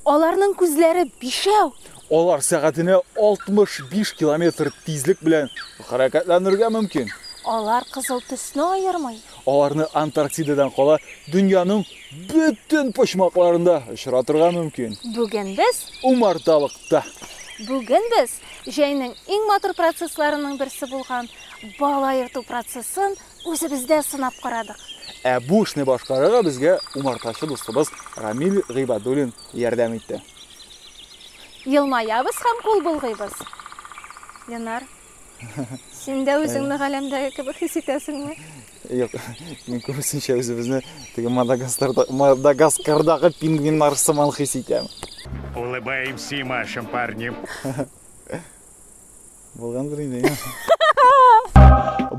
Аларның күзләре бишәү. Алар сәгатенә 65 километр тизлек белән хәрәкәтләнергә мөмкин. Алар кызыл төсне аермый. Аларны Антарктидадан кала дөньяның бөтен почмакларында очратырга мөмкин. Бүген без умарталыкта. Бүген без җәйнең иң матур процессларының берсе булган бал аерту процессын Үзебездә сынап карадык. Ә бу эшне башкарырга безгә умартачы дустыбыз Рамил Гыйбадуллин ярдәм итте. Елмаябыз һәм кул болгыйбыз. Ленар, син дә үзеңне галәмдәге кебек хис итәсеңме? Юк, мин күбесенчә үзебезне теге Мадагаскардагы пингвиннар сыман хис итәм. Улыбаемся и машем парнем. Булгандыр инде.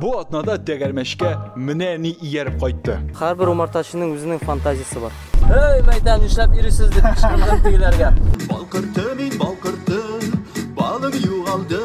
Бу атнада тәгәрмәшкә менә ни ияреп кайтты. Һәрбер умартачының үзенең фантазиясе бар. Эй, мәйдан, нишләп ирисез дип кычкырдым тегеләргә. Балкырты мин балкырты, балым югалды.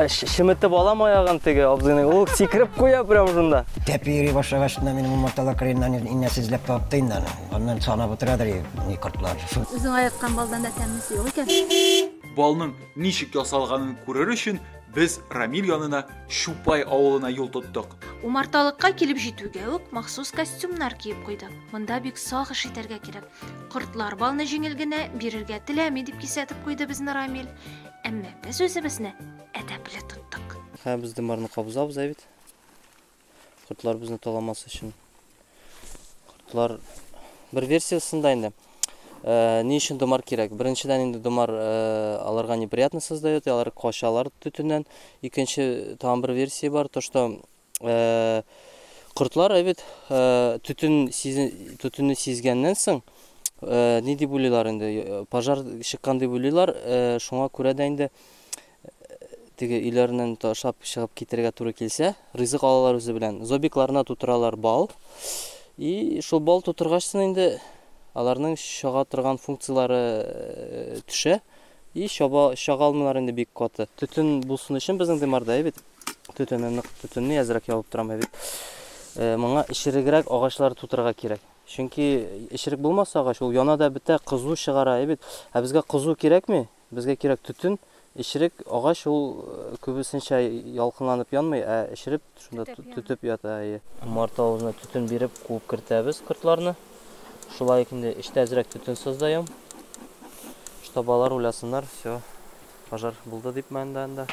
Шеметеп алам аягын теге абзыйны. Ул сикереп куя прям шунда. Тәпи йөри башлагач, минем умарталар кырыеннан инәсе эзләп табыпты инде аны. Аннан санап утырадыр ни кортлар. Үзең аяккан балдан да тәмлесе юк икән. Балның Ничек ясалганын күрер өчен, без Рамил янына Чупай авылына юл тоттык. Умарталыкка килеп җитүгә үк махсус костюмнар киеп куйдык. Монда бик сак эш итәргә кирәк. Кортлар балны җиңел генә бирергә теләми, дип кисәтеп куйды безне Рамил. Әмма без үзебезне әдәпле тоттык. Һәм без дымарны кабызабыз, ә бит? Кортлар безне таламас өчен. Кортлар бер версиясендә инде. Э, ни өчен домар кирәк? Беренчедән инде домар э, аларга неприятно создает, алар качалар төтеннән. Икенче там бер версия бар, то что э, кортлар әбит төтен төтенне сизгәннән соң ни дип уйлыйлар инде, пожар чыккан дип уйлыйлар, шуңа күрә дә инде теге өйләреннән ташлап чыгып китәргә туры килсә, ризык алалар үзе белән. Зобикларына тутыралар бал. И шул бал тутыргач соң инде аларның чага торган функцияләре э, төшә. И чаба чага алмыйлар инде бик каты. Төтен булсын өчен безнең дымарда бит. Төтенне нык төтенне әзрәк ябып торам бит. Э, моңа эчерегрәк агачлар тутырырга кирәк. Чөнки эчерек булмаса агач ул яна да бетә, кызу чыгара бит. Ә безгә кызу кирәкми? Безгә кирәк төтен, эчерек, агач ул күбесенчә ялкынланып янмый, ә эчереп шунда төтеп ята, әйе. Умарта авызына төтен биреп куып кертәбез кортларны. Шулай ук инде эчтә әзрәк төтен создаем. Чтобы алар уйласыннар, все, пожар булды дип монда анда.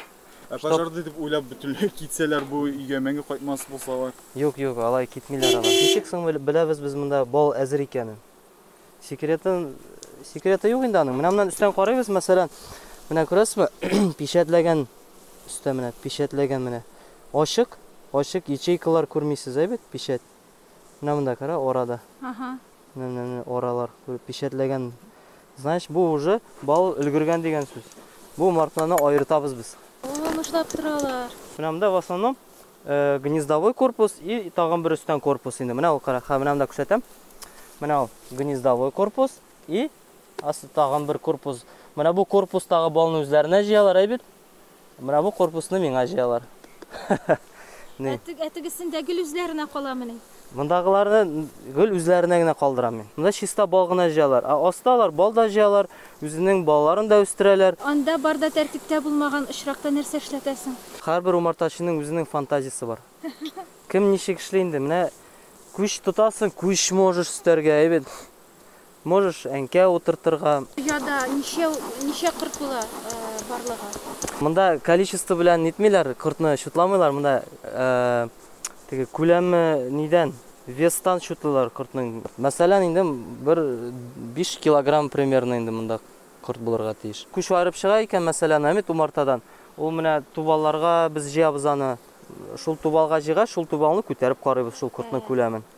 Ә пожар дип уйлап бөтенләй китсәләр, бу өйгә мәңге кайтмас булсалар? Юк, юк, алай китмиләр алар. Ничек соң беләбез без монда бал әзер икәнен? Секретын, секреты юк инде аның. Менә моннан өстән карыйбыз, мәсәлән, менә күрәсезме? Печатләгән өстә менә, печатләгән менә. Ачык, ачык ячейкалар күрмисез, ә бит печать. Менә монда кара орада. Ага. Менә менә оралар күреп печатләгән. Знаешь, бу уже бал өлгергән дигән сүз. Бу мартларны аертабыз без. Ул нышлап торалар. Менә монда в основном Гнездовой корпус и тагын бер өстән корпус инде. Менә ул кара, ха, менә монда күрсәтәм. Менә ул гнездовой корпус и асы тагын бер корпус. Менә бу корпустагы балны үзләренә җыялар, әй бит? Менә бу корпусны миңа җыялар. Ни? Ә тегесендә гел үзләренә каламыни? Мондагыларны гел үзләренә генә калдырам мин. Монда чиста бал гына җыялар. Ә аста алар бал да җыялар, үзенең балаларын да үстерәләр. Анда бар да тәртиптә булмаган очракта нәрсә эшләтәсең? Һәрбер умартачының үзенең фантазиясе бар. Кем ничек эшли инде. Менә күч тотасың, күч можешь өстәргә, әйбәт. Можешь әнкә утыртырга. Ояда ничәү, ничә корт була барлыгы? Монда количество белән нитмиләр, кортны чутламыйлар, монда теге күләме нидән, вестан чутлыйлар кортның. Мәсәлән, инде бер биш килограмм примерно инде монда корт булырга тиеш. Күч аерып чыга икән, мәсәлән, әмит умартадан, ул менә тубалларга без җыябыз аны. Шул тубалга җыйгач, шул тубалны күтәреп карыйбыз шул кортның күләмен.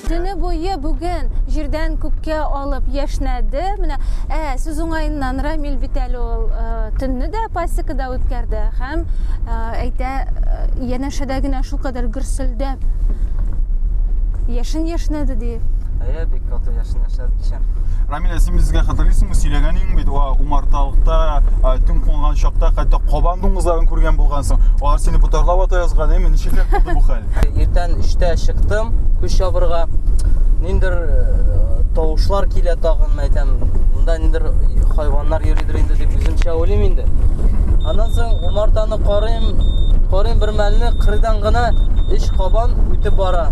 Төне буе бүген җирдән күккә алып яшнәде. Менә ә, сүз уңаеннан Рамил бит әле ул э, төнне дә пасекада үткәрде һәм э, әйтә э, янәшәдә генә шулкадәр гөрселдәп яшен яшнәде ди. Әйе, бик каты яшен Сәбикшә. Рамилә, син безгә хәтерлисеңме, сөйләгән идең бит, ва умарталыкта төн кунган чакта хәтта кабан дуңгызларын күргән булгансың. Алар сине ботарлап ата язган, әйме, ничек булды бу хәл? Иртән 3 чыктым, күш ябырга. Ниндер э, тавышлар килә тагын, әйтәм, монда ниндер хайваннар йөридер инде дип үземчә уйлыйм инде. Аннан соң умартаны Карыйм, карыйм бер мәлне кырыйдан гына өч кабан үтеп бара.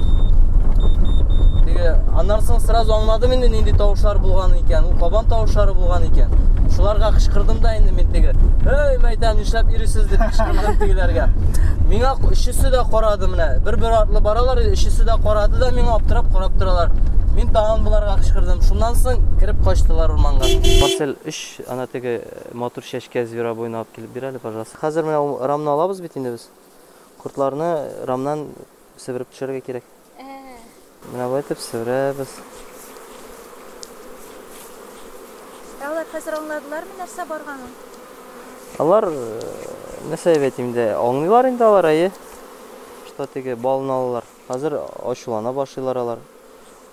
Теге аннан соң сразу аңладым инде нинди тавышлар булган икән. Ул кабан тавышлары булган икән. Шуларга кычкырдым да инде мин теге. Эй, мәйтәм, нишләп ирисез дип кычкырдым тегеләргә. Миңа өчесе дә карады менә. Бер-бер артлы баралар, өчесе дә карады да миңа аптырап карап торалар. Мин тагын боларга кычкырдым. Шуннан соң кирип качтылар урманга. Марсель 3 ана теге матур чәчкә зверобой Килеп бир әле, пожалуйста. Хәзер менә ул рамны алабыз бит инде без. Кортларны рамнан себереп төшерергә кирәк. Менә болай итеп себерәбез. Ә алар хәзер аңладылармы нәрсә барганын? Алар э, нәрсә дип әйтим инде, аңлыйлар инде алар, әйе. Что теге балны алалар. Хәзер ачулана башлыйлар алар.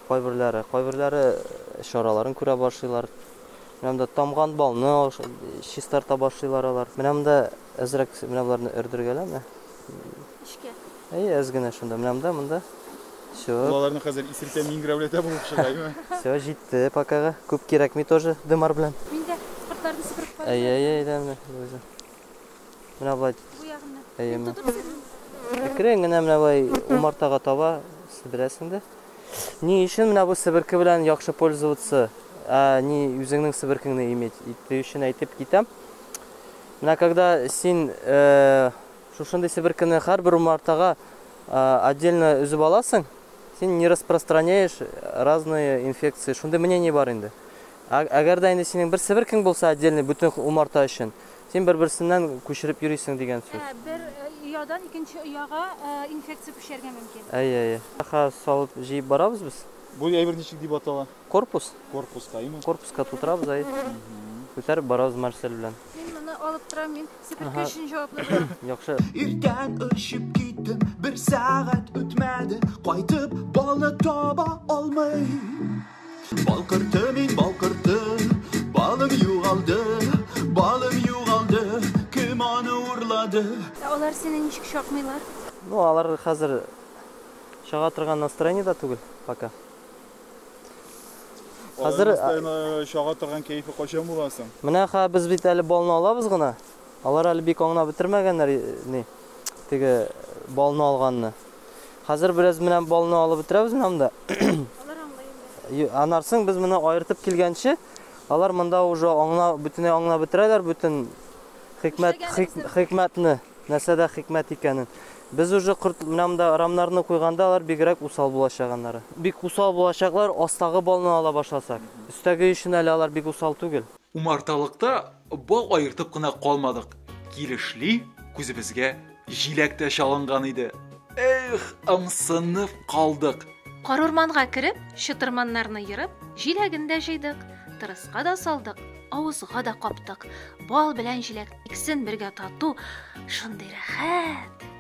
Кайберләре, кайберләре чараларын күрә башлыйлар. Менә монда тамган балны чистарта башлыйлар алар. Менә монда әзрәк менә боларны өрдергәлә менә. Эшкә. Әйе, әз генә шунда. Менә монда, монда. Все. Балаларны хәзер исертә миңгрәүләтә булып чыга, әйме? Все, җитте покага. Күп кирәкми тоже дымар белән. Мин дә кортларны сыпырып карыйм. Әйе, әйе, әйдә менә. Менә болай. Бу ягыннан. Әйе, менә. Әкрен генә менә болай умартага таба сиберәсең дә. Ни өчен менә бу себерке белән яхшы пользоваться? Ә ни үзеңнең себеркеңне иметь итү өчен әйтеп китәм. Менә когда син э, шушындый себеркене һәрбер умартага э, отдельно өзеп аласың, син не распространяешь разные инфекции. Шундый мнение бар инде. Әгәр дә инде синең бер себеркең булса отдельный бөтен умарта өчен, Син бер-берсеннән күчереп йөрисең дигән сүз. Ә, бер оядан икенче ояга инфекция күчәргә мөмкин. Әйе, әйе. Каха салып җыеп барабыз без. Бу әйбер ничек дип атала? Корпус. Корпуска, әйеме? Корпуска тутырабыз, әйе. Күтәреп барабыз Марсель белән. Мин моны алып торам, мин себерке өчен җаваплы булам. Яхшы. Иртән очып киттем, бер сәгать үтмәде, кайтып бала таба алмыйм. Балкырты мин балкырты, балым югалды, балым югалды, кем аны урлады? Ә алар сине ничек чакмыйлар? Ну, алар хәзер чага торган настроениедә түгел пока. Хәзер э, чага торган кәефе кайчан була соң? Менә ха без бит әле балны алабыз гына. Алар әле бик аңлап бетермәгәннәр э, ни теге балны алганны. Хәзер бераз менә балны алып бетерәбез менә монда. Алар аңлый инде. Анарсың без моны аертып килгәнче, алар монда уже аңна бөтенләй аңна бетерәләр бөтен хикмәт хикмәтне, нәрсәдә хикмәт икәнен. Без уже корт менә монда рамнарны куйганда алар бигрәк усал булачак аннары. Бик усал булачаклар астагы балны ала башласак. Өстәге өчен әле алар бик усал түгел. Умарталыкта Бал аертып кына калмадык. Килешли, күзебезгә җиләк тә чалынган иде. Эх, ымсынып калдык. Карурманга кереп, чытырманнарны ерып, җиләген дә җыйдык, тырыска да салдык, авызга да каптык. Бал белән җиләк иксен бергә тату, шундый рәхәт!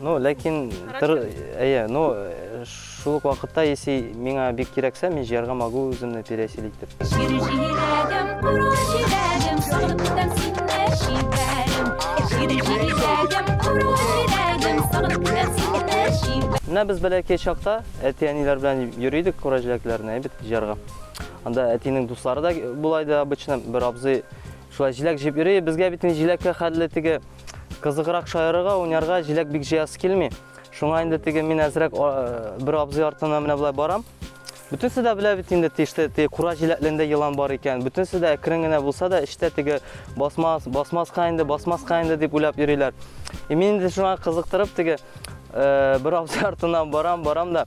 Ну, ләкин, тыр, әйе, ну, шул ук вакытта, если миңа бик кирәксә, мин җыярга могу үземне пересель итеп. Менә без бәләкәй чакта әти-әниләр белән йөридек кура җиләкләрне әйбит җыярга. Анда әтинең дуслары да була иде обычно, бер абзый шулай җиләк җыеп йөри. Безгә бит җиләккә хәлле теге Кызыграк шаярырга, уйнарга җиләк бик җыясы килми. Шуңа инде теге мин әзрәк бер абзый артына менә болай барам. Бөтенсе дә белә бит инде тиште, теге кура җиләклендә елан бар икән. Бөтенсе дә әкрен генә булса да эштә теге басмас, басмаска инде, басмаска инде дип уйлап йөриләр. И мин инде шуңа кызыктырып теге бер абзый артына барам, барам да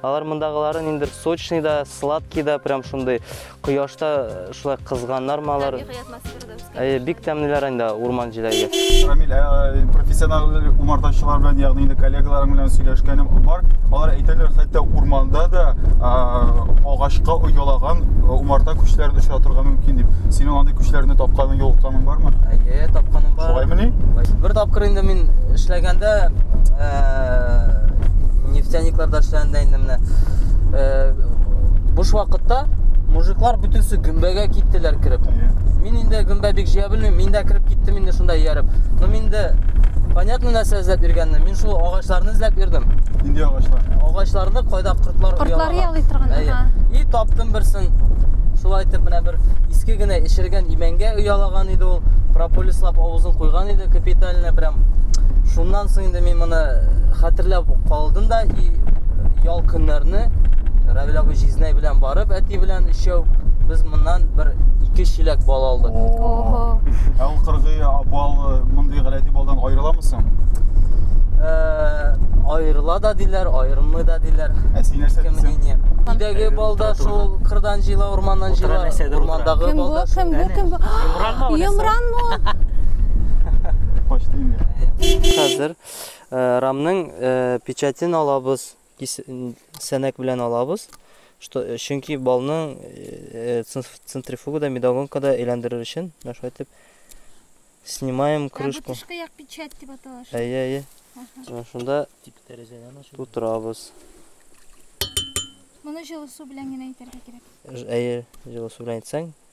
Алар мондагылары ниндер сочный да, сладкий да, прям шундый кояшта э, шулай кызганнар ма алар. Әйе, бик тәмлеләр инде урман җиләге. Рамил, э, профессионал умартачылар белән, ягъни инде коллегаларым белән сөйләшкәнем бар. Алар әйтәләр, хәтта урманда да агачка оялаган э, умарта көчләрен очрата торырга мөмкин дип. Синең андый көчләрне тапканың, юлыкканың бармы? Әйе, тапканым бар. Шулаймыни? Бер тапкыр инде мин эшләгәндә нефтяникларда эшләгәндә инде менә э, буш вакытта мужиклар бөтенесе гөмбәгә киттеләр кереп мин инде гөмбә бик җыя белмим мин дә кереп киттем инде шунда ияреп но мин дә понятно нәрсә эзләп йөргәнне мин шул агачларны эзләп йөрдем нинди агачлар агачларны кайда кортлар кортлар ялый торган и таптым берсен шулай итеп менә бер иске генә эчергән имәнгә оялаган иде ул прополислап авызын куйган иде капитально прям Шуннан соң инде мин моны хәтерләп калдым да и ял көннәрне Равил абый җизнәй белән барып, әти белән өчәү без моннан бер ике чиләк бал алдык. Ого. Ә ул кыргый бал э, мондый гадәти балдан аерыламы соң? Э, аерыла да диләр, аерылмый да диләр. Ә син нәрсә дисең? Идәге балда шул кырдан җыйла, урманнан җыйла, урмандагы балда шул. Кем бу? Кем бу? Кем бу? Йомран мө? Качты инде. Хәзер э, рамның э, печатен алабыз, сәнәк белән алабыз. Что, э, чөнки балның центрифугада, медогонкада әйләндерер өчен, шулай итеп снимаем крышку. Ә бу як печать дип атала. Әйе, әйе. Шунда тик тәрәзәдән ачып тутырабыз. Моны җылы су белән генә итәргә кирәк. Әйе, җылы су белән итсәң,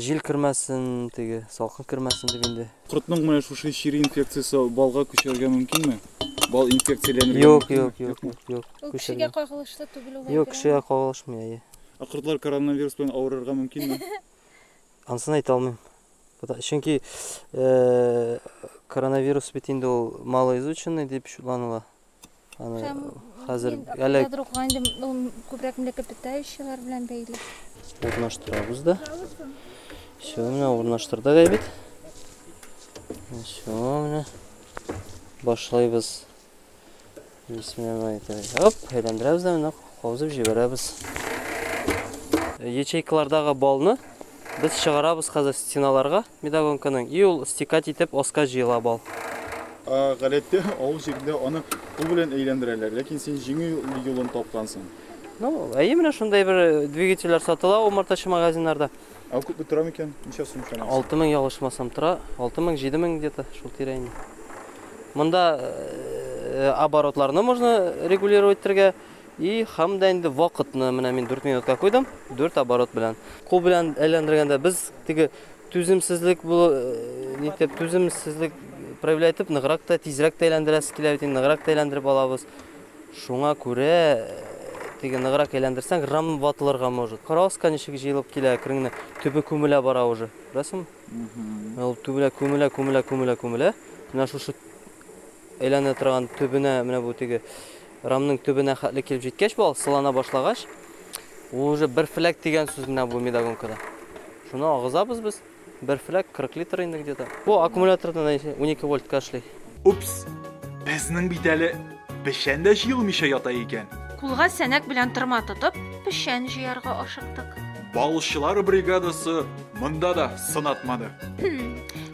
Җил кермәсен, теге салкын кермәсен дип инде. Кортның менә шушы чире инфекциясе балга күчәргә мөмкинме? Бал инфекцияләнергә Юк, юк, юк, юк, юк. Ул кешегә кагылышлы түгел ул. Юк, кешегә кагылышмый, әйе. Ә кортлар коронавирус белән авырырга мөмкинме? Ансын әйтә алмыйм. Чөнки коронавирус бит инде ул малоизученный дип шутланыла. Һәм хәзер әле ядроклар инде күбрәк млекопитающиелар белән бәйле. Урнаштырабыз да. Все, менә урнаштырдык әйбит. Все, менә башлыйбыз. Бисмиллаһи тәгалә. Оп, әйләндерәбез дә менә каузып җибәрәбез. Ячейкалардагы балны без чыгарабыз хәзер стеналарга. Медогонканың и ул стекать итеп оска җыела бал. Гадәттә авыл җирендә аны кул белән әйләндерәләр, ләкин син җиңел юлын тапкансың. Ну, әйе, менә шундай бер двигательләр сатыла умартачы магазиннарда. Ә күпме тора микән? Ничә сум чамасы? Алты мең ялгышмасам тора. Алты мең, җиде мең где-то шул тирә инде. Монда э, оборотларны можно регулировать итәргә и һәм дә инде вакытны менә мин 4 минутка куйдым, 4 оборот белән. Кул белән әйләндергәндә без теге Түземсезлек бу нитеп, түземсезлек проявлять итеп, ныграк та, тизрәк тә әйләндерәсе килә бит, ныграк та әйләндереп алабыз. Шуңа күрә теге ныграк әйләндерсәң, рам ватылырга может. Карагыз, канечек җыелып килә, әкренне төбе күмелә бара уже. Күрәсең? Ул түбелә күмелә, күмелә, күмелә, күмелә. Менә шушы Әйләнә торган төбенә, менә бу теге рамның төбенә хәтле килеп җиткәч, бу алсылана башлагач, уже бер фләк дигән сүз менә бу медогонкада. Шуны агызабыз без. Бер фләк 40 литр инде где-то. Бу аккумулятордан 12 вольтка эшли. Упс, безнең бит әле печән дә җыелмыйча ята икән. Кулга сәнәк белән тырма тотып, печән җыярга ашыктык. Балчылар бригадасы монда да сынатмады.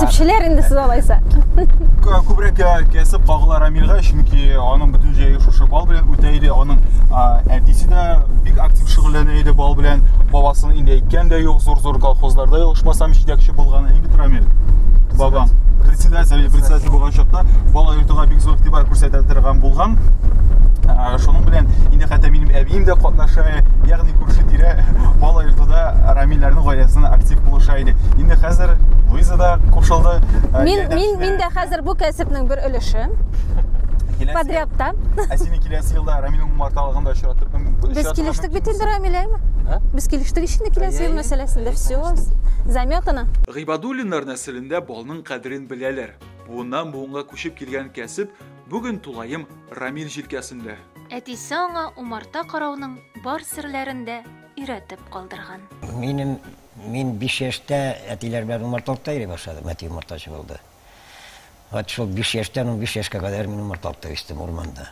Төпчеләр инде сез алайса. Күбрәк кәсеп Багла Рамилга, чөнки аның бөтен җәе шушы бал белән үтә иде. Аның әтисе дә бик актив шөгыльләнә иде бал белән. Бабасын инде әйткән дә юк, зур-зур колхозларда ялгышмасам җитәкче булган иң бит Рамил. Бабам председатель, председатель булган чакта бала йортыга бик зур игътибар күрсәтә торган булган. Шуның белән инде хәтта минем әбием дә катнаша, ягъни күрше-тирә бала йортында Рамиләрнең гаиләсенә актив булыша иде. Инде хәзер Луиза да кушылды. Э, мин мин мин дә хәзер бу кәсепнең бер өлеше. Подрядта. Ә сине киләсе елда Рамилнең умарталыгында очратып Без килештек бит инде Рамиләме? Без килештек ишенде киләсе ел мәсьәләсендә все. Заметано. Гыйбадуллиннар нәселендә балның кадерен беләләр. Буыннан буынга күчеп килгән кәсеп Бүген тулаем Рамил җилкәсендә. Әтисе аңа умарта карауның бар серләрен дә өйрәтеп калдырган. Минем, мин биш яшьтә әтиләр белән умарталыкта йөри башладым, әти умартачы булды. Вот шул биш яшьтән унбиш яшькә кадәр мин умарталыкта үстем, урманда.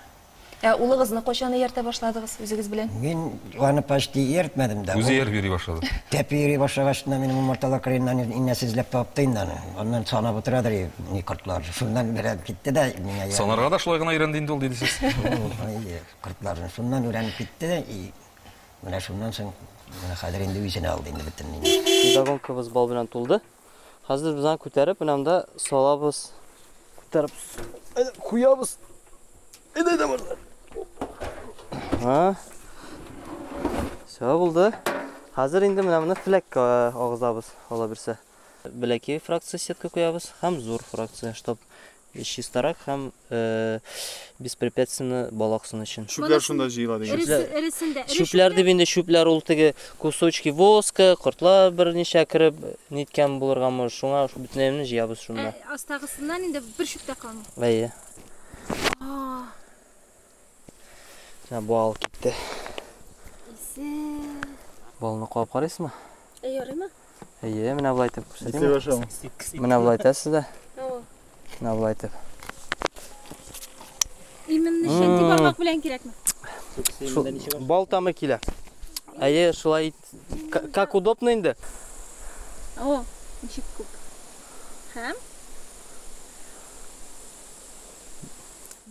Ә улыгызны кайчан ияртә башладыгыз үзегез белән? Мин Аны почти ияртмәдем дә. Үзе ияреп йөри башлады. Тәпи йөри башлагач, менә минем умарталар кырыеннан инәсе эзләп тапты инде аны. Аннан санап утырадыр и, ни кортлар. Шуннан берәр китте дә миңа ияреп. Санарга да шулай гына өйрәнде инде ул, диде сез. Әйе, кортларны. Шуннан өйрәнеп китте дә и, менә шуннан соң, менә хәзер инде үзенә алды инде бөтен мине. Педагогикабыз бал белән тулды. Хәзер без аны күтәреп, менә монда салабыз. Күтәреп куябыз. Әйдә дә бар. Ха. Все булды. Хәзер инде менә моны флеккә агызабыз, ала бирсә. Бәләкәй фракция сетка куябыз һәм зур фракция, чтобы Чистарак һәм беспрепятственно балак сыны өчен. Чүпләр шунда җыела дигән. Чүпләр. Эресендә. Чүпләр дип инде чүпләр ул теге кусочки воска, кортлар берничә кереп ниткән булырга мөр. Шуңа бөтенләйне җыябыз шунда. Астагысыннан инде бер чүп тә калмый. Әйе. Ә бал китте. Исе. Балны куап карыйсызмы? Ә ярыймы? Әйе, менә болай итеп күрсәтәм. Менә болай итәсез дә. Менә болай итеп. Именно шәнти бармак белән кирәкме? Бал тамы килә. Әйе, шулай ит. Как удобно инде? О, ничек күп. Һәм?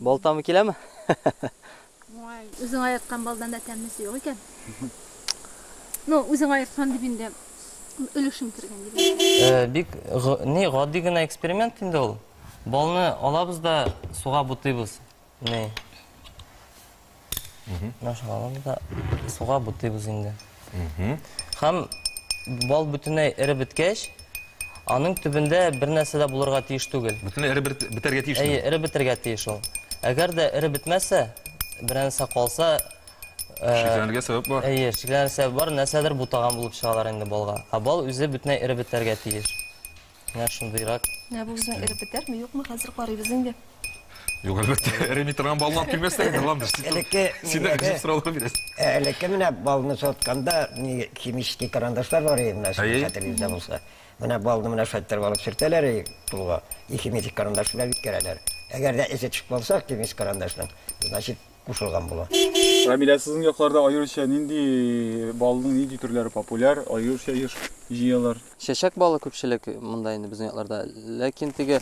Балтамы киләме? Уңай, үзең айырткан балдан да тәмлесе юк икән. Ну, үзең айырткан дип инде өлешең кергән дип. Э, бик ни гади генә эксперимент инде ул. Балны алабыз да суга бутыйбыз. Ни. Мына шаламыз да суга бутыйбыз инде. Һәм бал бөтенләй эреп беткәч, аның төбендә бер нәрсә дә булырга тиеш түгел. Бөтенләй эреп бетәргә тиеш. Әйе, эреп бетәргә тиеш ул. Әгәр дә эреп бетмәсә, бер нәрсә калса, э, Шикләнергә сәбәп бар. Әйе, шикләнергә сәбәп бар, нәрсәдер бутаган булып чыгалар инде балга. Ә бал үзе бөтенләй эреп бетәргә тиеш. Менә шундыйрак. Менә бу безнең эреп бетәрме, юкмы, хәзер карыйбыз инде. Юк, әлбәттә, эреми торган балны алып килмәстә инде, Ландыш. Син дә гыжып сораулар бирәсең. Элекке менә балны сотканда, химический карандашлар бар иде, менә сезнең хәтерегездә булса. Менә балны менә шулай иттереп алып сөртәләр иде кулга. И химический карандаш белән үткәрәләр. Әгәр дә эзе төшеп калса, химический карандашның, значит, кушылган була. Рамилә, сезнең якларда аеруча нинди балның нинди төрләре популяр, аеруча еш җыялар? Чәчәк балы күпчелек монда инде безнең якларда. Ләкин теге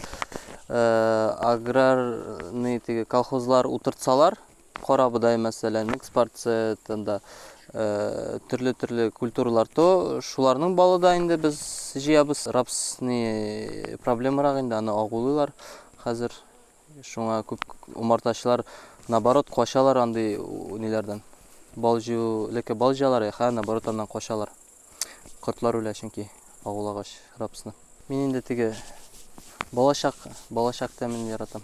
аграрный теге колхозлар утыртсалар, кара бодай мәсәлән, экспорция тында төрле-төрле культуралар то шуларның балы да инде без җыябыз. Рапсны проблемарак инде, аны агулыйлар хәзер. Шуңа күп умартачылар наоборот качалар андый ниләрдән. Бал җыю, леке бал җыялар, яха, наоборот аннан качалар. Кортлар үлә чөнки агулагач рапсны. Мин инде теге балачак, балачак тәмен яратам.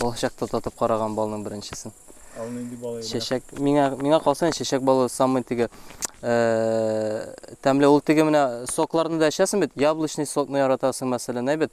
Балачакта татып караган балның беренчесен. Ал нинди бал иде? Чәчәк, миңа, миңа калса чәчәк балы самый теге тәмле ул теге менә сокларны да эчәсең бит, яблочный сокны яратасың мәсәлән, әйбәт.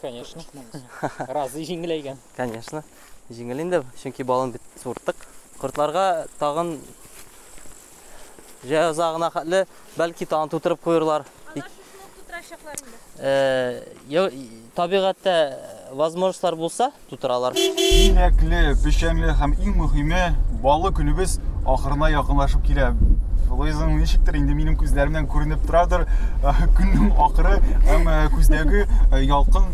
Конечно. Разый җиңеләйгән. Конечно. Җиңел инде, чөнки балын бит сурттык. Кортларга тагын җәза гына хәтле, бәлки тагын тутырып куерлар. Табигатьтә возможностьлар булса, тутыралар. Димәкле, печәнле һәм иң мөһиме, баллы көнебез ахырына якынлашып килә. Луизаның ничектер инде минем күзләремнән күренеп торадыр, э, көннең ахыры һәм э, күздәге э, ялкын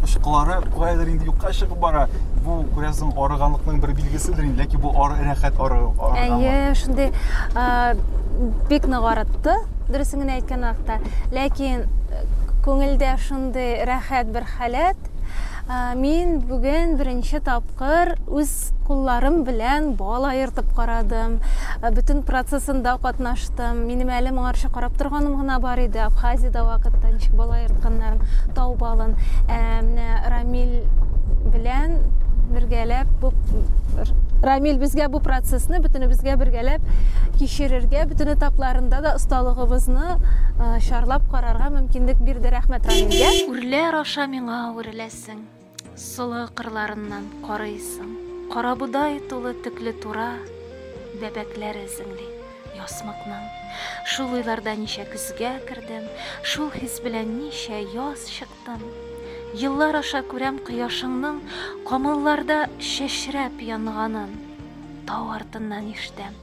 очкылары каядыр инде юкка чыгып бара. Бу күрәсең арыганлыкның бер билгеседер инде, ләкин бу ары рәхәт ары. Әйе, шундый бик нык арытты, дөресен генә әйткән вакытта. Ләкин күңелдә шундый рәхәт бер халәт, Мин бүген беренче тапкыр үз кулларым белән бал аертып карадым. Бөтен процессында катнаштым. Минем әле моңарчы карап торганым гына бар иде. Абхазиядә вакытта ничек бал аертканнарын, тау балын. Ә менә Рамил белән бергәләп бу Рамил безгә бу процессны бөтенебезгә бергәләп кичерергә, бөтен этапларында да осталыгыбызны чарлап карарга мөмкинлек бирде. Рәхмәт Рамилгә. Күлләр аша миңа үреләсең, Солы кырларыннан карыйсың, Карабодай тулы төкле тура, Бәбәкләр эзеңли ясмыкның. Шул уйларда ничә көзгә кердем, Шул хис белән ничә яз чыктым. Еллар аша күрәм кояшыңның Камылларда чәчрәп янганын, Тау артыннан ишетәм